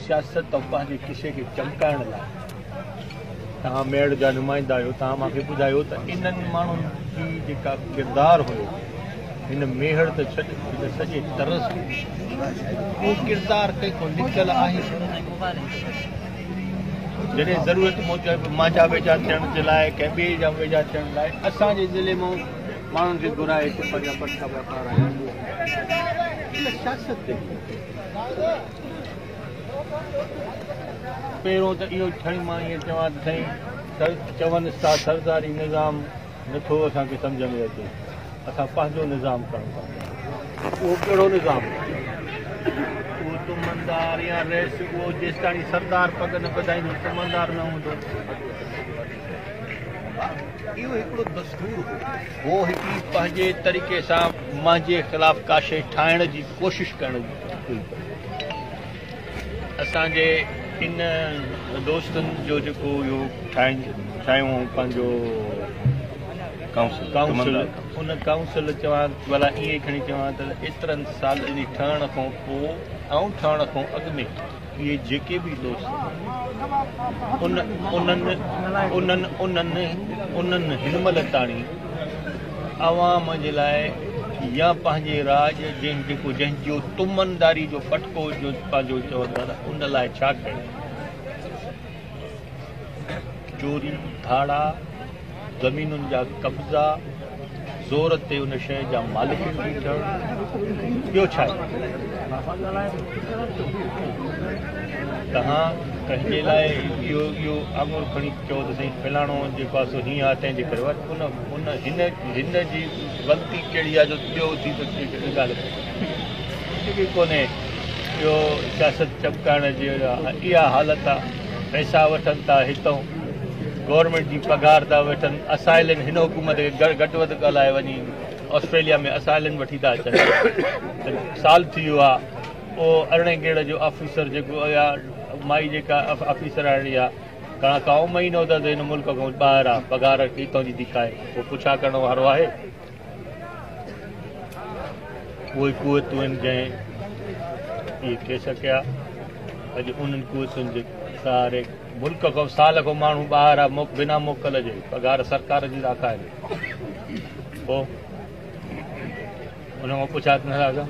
سياست ۽ پنهنجي ڪشي کي چمڪائڻ لاء توهان ميڙ جا نمائندا آهيو توهان مان کي ٻڌايو ته انهن ماڻهن جي جيڪا ڪردار هيو هن ميهڙ ته ڇڏ هن سڄي طرز اهو ڪردار ڪنهن کان لڪل آهي جڏهن ضرورت موجب مانجا ويجها ٿيڻ جي لاء ڪنهن ٻئي جا ويجها ٿيڻ لاء اسان جي ضلعي مان ماڻهن کي گهرائي هتي پنهنجا پٽا واپار آهيا سياست تي پهريون ته اهو سائين مان ائين چوان ته سائين سر چونس ٿا سرداري نظام نٿو اسان کي سمجهه ۾ اچي اسان پنهنجو نظام ڪرڻ ٿا چاهيون اهو ڪهڙو نظام اهو تمندار يا رئيس اهو جيستاڻي سردار پڳ نه ٻڌائيندو تمندار نه هوندو اهو هڪڙو دستور هو هو هڪڙي پنهنجي طريقي سان منهنجي خلاف ڪاشي ٺاهڻ جي ڪوشش ڪرڻ جي اسان جي ان دوستن جو جيڪو اهو ٺاهين ٺاهيون پنهنجو ڪائونسل ان ڪائونسل چوان ڀلا ائين کڻي چوان ته ايترن سالن جي ٺهڻ کان پوء ۽ ٺهڻ کان اڳ ۾ اهي جيڪي به دوست ان انهن انهن انهن انهن هن مهل تاڻي عوام جي لاء يا پنهنجي راڄ جنهن جيڪو جنهن جو تمنداري جو پٽڪو جو پنهنجو چوندا ان لاء ڇا ڪيو چوري، ڌاڙا، زمينن جا قبضا، زور تي ان شيء جا مالڪ ٿي ٿيڻ، ٻيو ڇا آهي؟ توهان ڪنهن جي لاء اهو اهو آڱر کڻي چئو ته سائين فلاڻو جيڪو آهي سو هيئن آهي تنهن جي ڪري ان ان هن هن جي غلطي ڪهڙي آهي جو ٻيو اٿي ته ڳالهه ڪري. ڪجهه به ڪونهي اهو سياست چمڪائڻ جي اها حالت آ پئسا وٺن ٿا هتئون گورنمينٽ جي پگهار ٿا وٺن اسائلين هن حڪومت کي گهٽ وڌ ڳالهائي وڃي آسٽريليا ۾ اسائلين وٺي ٿا اچن سال ٿي ويو آ او ارڙهين گيڙ جو آفيسر جيڪو اها مائي جيڪا آفيسراڻي آ گهڻا ڪائو مهينو ته هن ملڪ کان ٻاهر آ پگهار هتئون جي ٿي کائي پوء پڇا ڪرڻ وارو آهي اهي قوتون آهن جنهن اهي ڪيس ڪيا اڄ انهن قوتن جي سهاري ملڪ کان سال کان ماڻهو ٻاهر آ بنا موڪل جي پگهار سرڪار جي ٿا کائن پوء ان کان پڇا ٿي نه سگهان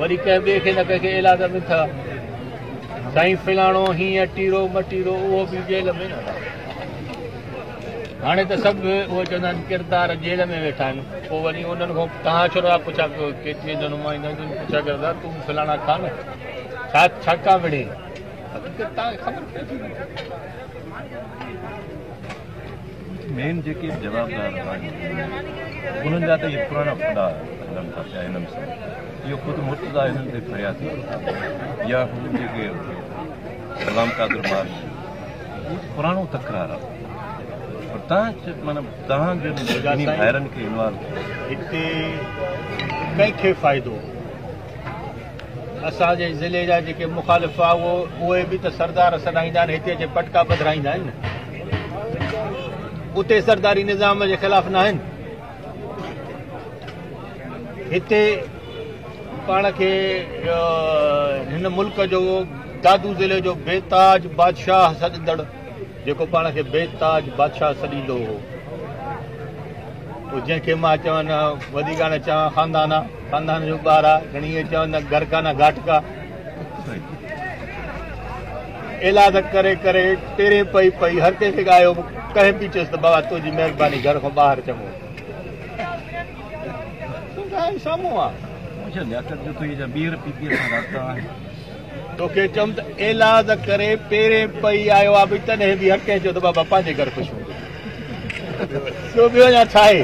وري ڪنهن ٻئي کي نه ڪنهن کي ايلاز ۾ تھ سائين فلاڻو هيئن ٽيرو مٽيرو اهو به جيل ۾ نه رهي هاڻي ته سڀ اهو چوندا آهن ڪردار جيل ۾ ويٺا آهن پوء وري انهن کان توهان ڇو رها پڇا ڪيو ڪيترين جي نمائندن جي پڇا ڪيو ته تون فلاڻا کان نه ڇا ڇا ڪا وڙهي حقيقت توهان کي خبر پئي ٿي مين جيڪي به جوابدار آهن انهن جا ته اهي پراڻا خدا هلن ٿا پيا هنن سان اهو خود مرتضا هنن تي فريا ٿي يا هو جيڪي غلام قادر مارش پراڻو تڪرار آهي پر تان مطلب تان جن ڀائرن کي انوالو هتي ڪنهن کي فائدو اسان جي ضلعي جا جيڪي مخالف هئا اهي به ته سردار سڏائيندا آهن هتي اچي پٽڪا پڌرائيندا آهن نه اتي سرداري نظام جي خلاف نه آهن هتي پاڻ کي هن ملڪ جو دادو ضلع جو بي تاج بادشاهه سڏندڙ جيڪو پاڻ کي بي تاج بادشاهه سڏيندو هو جنهن کي مان چوان وڏي ڳاڻ چوان خاندان خاندان جو ٻار آ گھڻي اي چون نه گھر کا نه گھاٽ کا ايلاد ڪري ڪري پيرين پئي پئي هر ڪنهن کي ڳايو ڪنهن پي چيس ته بابا تنهنجي مهرباني گھر کان ٻاهر چڱو سامهون آ مونکي لياقت جو تو هي جا ٻيهر پي پي سان رابطا آهن توکي چوم ته ايلاز ڪري پيرين پئي آيو آ به تڏهن به هر ڪنهن چيو ته بابا پنهنجي گهر خوش هوندو ٻيو ٻيو يا ڇا آهي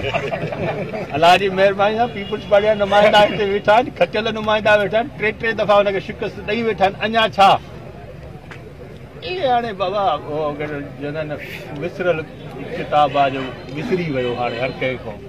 الله جي مهرباني سان پيپلز پارٽي جا نمائندا هتي ويٺا آهن کچل نمائندا ويٺا آهن ٽي ٽي دفعا ان کي شڪست ڏئي ويٺا آهن اڃا ڇا اي هاڻي بابا جنن وسرل ڪتاب آ جو وسري ويو هاڻي هر ڪنهن کان